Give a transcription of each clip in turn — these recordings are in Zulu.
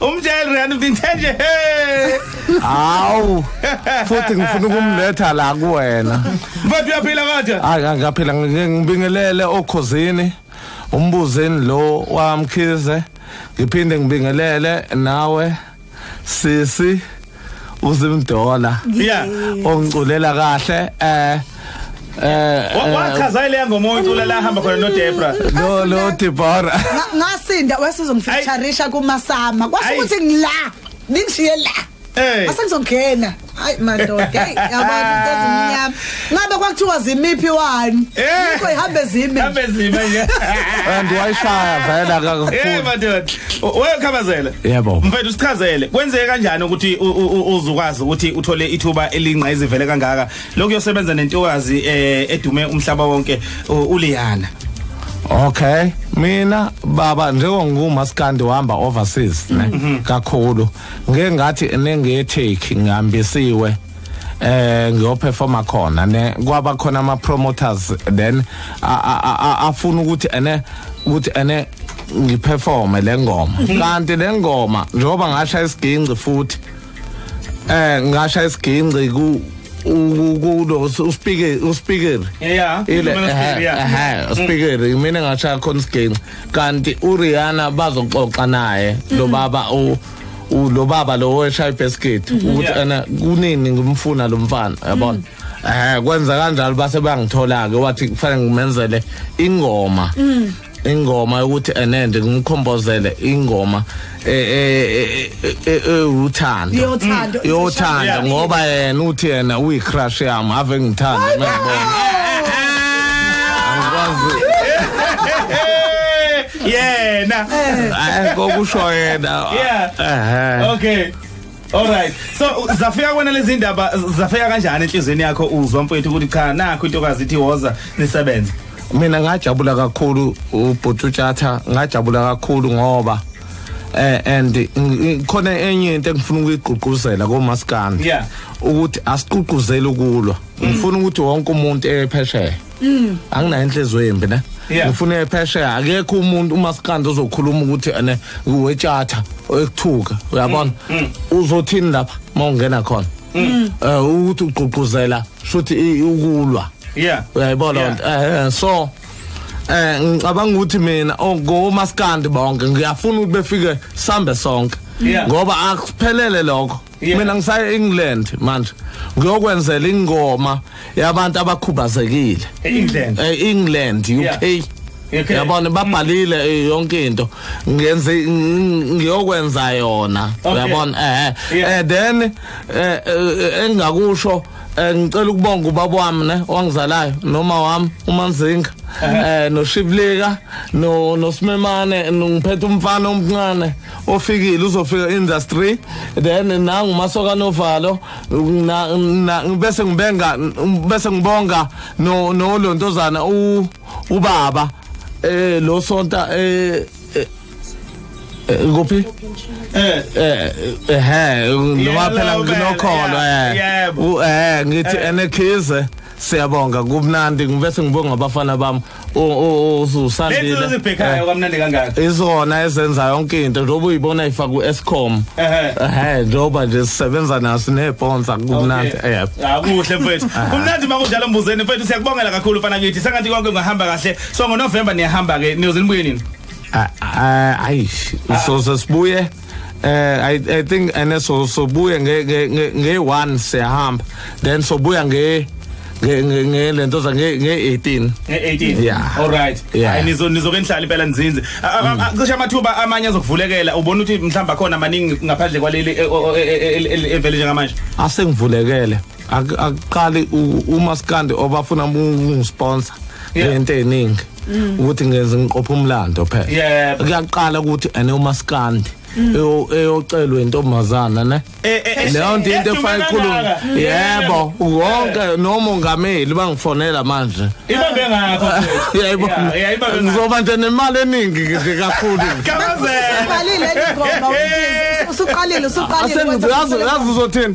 umjayeli riyani vinthe nje he hawu futhi ngifuna ukumletha la kuwena mfowethu uyaphila kodwa hayi angaphila ngibingelele okhozini umbuzeni lo wamkhize ngiphinde ngibingelele nawe sisi uzimdola yeah ongiculela kahle eh Eh, eh wachaza ile ngoma oyicula la hamba khona no Debra. Lo lo Debra. Ngasinda wasizongifeatureisha kuma sama. Kwasho ukuthi ngila. Ningishiye la. Eh. Asengizongena. Hayi madoda. Hey, yabona into ezimnyama. Ngabe kwakuthiwa zimiphi wani? Eh. Yikho ihambe zime. Hambe zime nje. and wayishaya vele akakufuni Eh madoda. Wewe khabazela. Yebo. Mfethu sichazele. Kwenzeke kanjani ukuthi u- u- u- uzukwazi ukuthi uthole ithuba elingqa izivele kangaka? Lokho yosebenza nentokazi eh edume umhlaba wonke u- uLiyana. okay mina baba njengoba ngingumaskandi uhamba overseas ne kakhulu ngeke ngathi nengetheki ngihambisiwe eh ngiyoperforma khona ne kwaba khona ama promoters then afuna ukuthi ene ukuthi ene ngiperforme lengoma mhm. kanti lengoma njengoba ngasha isiginci futhi eh ngasha isiginci ku kulo uspikeri uspikeri yeah ile eh uspikeri eh, mm. mina ngasha khona isiginci kanti uRihanna bazoxoxa naye mm. lo baba u lo baba lo weshaya ibasket mhm. ukuthi ana kunini ngimfuna lo mfana yabona mhm. eh kwenza kanjalo base bangithola ke wathi kufanele ngimenzele ingoma mhm. ingoma yokuthi enende ngimkhombozele ingoma uthando eh, eh, eh, yothando ngoba yena uthi yena uyi crush yami ave ngithanda mangibona angikwazi yena Eh kokusho yena. Yeah. Ehhe. okay all right so zafika kwena lezi ndaba zafika kanjani enhlizweni yakho uzwa mfowethu ukuthi cha nakho intokazi ithi woza nisebenze mina ngajabula kakhulu ubhuti utshatha ngajabula kakhulu ngoba eh and ng- ng- khona enye into engifuna ukuyigqugquzela komaskandi Yeah. ukuthi asiququzeli ukulwa ngifuna ukuthi wonke umuntu ephesheya Mm. anginayo inhliziyo yembi ne Yeah. ngifuna ephesheya akekho umuntu umasikandi ozokhuluma ukuthi ene wetshatha ekuthuka uyabona Mm, uzothini lapha uma ungena khona um ukuthi ugqugquzela shuthi i- ukulwa yeah uyayibona Yeah. lento eh eh, so eh ngicabanga ukuthi mina oh, ngomasikandi bonke ngiyafuna ukuthi befike sambe sonke Yeah. ngoba akuphelele lokho Yeah. mina ngisaya England manje ngiyokwenzela ingoma yabantu abakhubazekile England. eh England UK Yeah. UK. yabona babhalile eh, yonke into ngenze ng- ngiyokwenza yona Okay. yabona eh Yeah. eh then eh, eh, engingakusho eh, ngicela ukubonga ubaba wami ne owangizalayo noma wami umanzinga eh noshiblika no nosimemane ngiphethe umfana omncane ofikile uzofika industry then nangu masoka novalo bese ngibenga bese ngibonga no no lontozana u ubaba eh lo sonta eh, eh, eh ngophi eh eh eh noma phela nginokholo eh eh ngithi enekhize siyabonga kubnandi ngibese ngibonga abafana bami usandilebhekhayo kamnandi kangaka izona ezenza yonke into njengoba uyibona ifaka u-escom ehe njengoba nje sisebenza naso neeponsa kumnandi akuhle mfethu kumnandi uma kunjalo mbuzeni mfethu siyakubongela kakhulu fana kithi sengathi konke kungahamba kahle so ngonovemba niyahamba-ke niyoze nibuye nini ayish so sesibuye Uh, I, I think and so so buya nge nge nge one siyahamba then so buya nge ngelento za nge 18 nge18 yeah all right yeah nizo nizoke nihlala impela nzinze cishe amathuba amanye azokuvulekela ubona ukuthi mhlamba khona maningi ngaphandle kwaleli evele njengamanje asengivulekele akuqali umaskandi obafuna ukungisponsor lento eningi mm. ukuthi ngenze ngiqopha umlando phela kuyaqala ukuthi ene umaskandi mm. eyocelwa intombazana ne e, e, e, leyo nto into efaka ikhuluma mm. yebo wonke nomongameli bangifonela manje ibambe ngakho yebo ngizoba nje nemali eningi nje kakhulu kabalile ngoma usuqalile usuqalile asengiyazi uzothini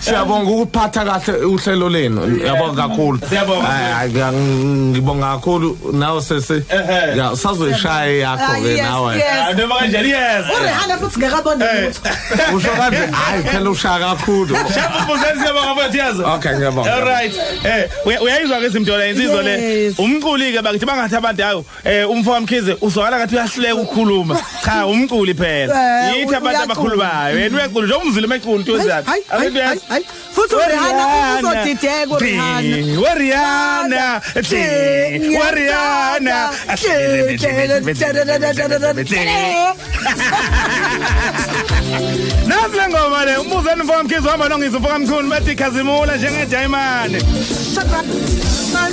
Siyabonga ukuphatha kahle uhlelo lenu. Ngiyabonga kakhulu. Siyabonga. Ay, ngiya- Ngibonga kakhulu nawe sesi. Ehhe. Ya usazoyishaya yakho Ah, ke yes, nawe. yes. Ah, noma kanjani yes urihana futhi ngekabona lutho Usho kanje hayi phela ushaya kakhulu. shapha umbuzeli siyabonga mfethu yazi Okay ngiyabonga. all right eh uya- uyayizwa ke izimdola insizwa le Yes. umculi ke bakithi bangathi abantu ayo Eh umfowam Mkhize uzwakala ngathi uyahleka ukukhuluma. Cha umculi phela. Eh, Yithi abantu uyacula. abakhulumayo. Yena uyacula njengoba umzile umecula uTozana. Hayi, hayi, Abantu hayi, hayi. Futhi uRihanna uzodideka uRihanna. Ding, uRihanna. Ding, Ding, uRihanna. Ding, Nazi le ngoma le umbuzeni mfowam Mkhize uhamba nongizwe mfowam Mkhulu bathi khazimula njengejayimane. Shut up. Man.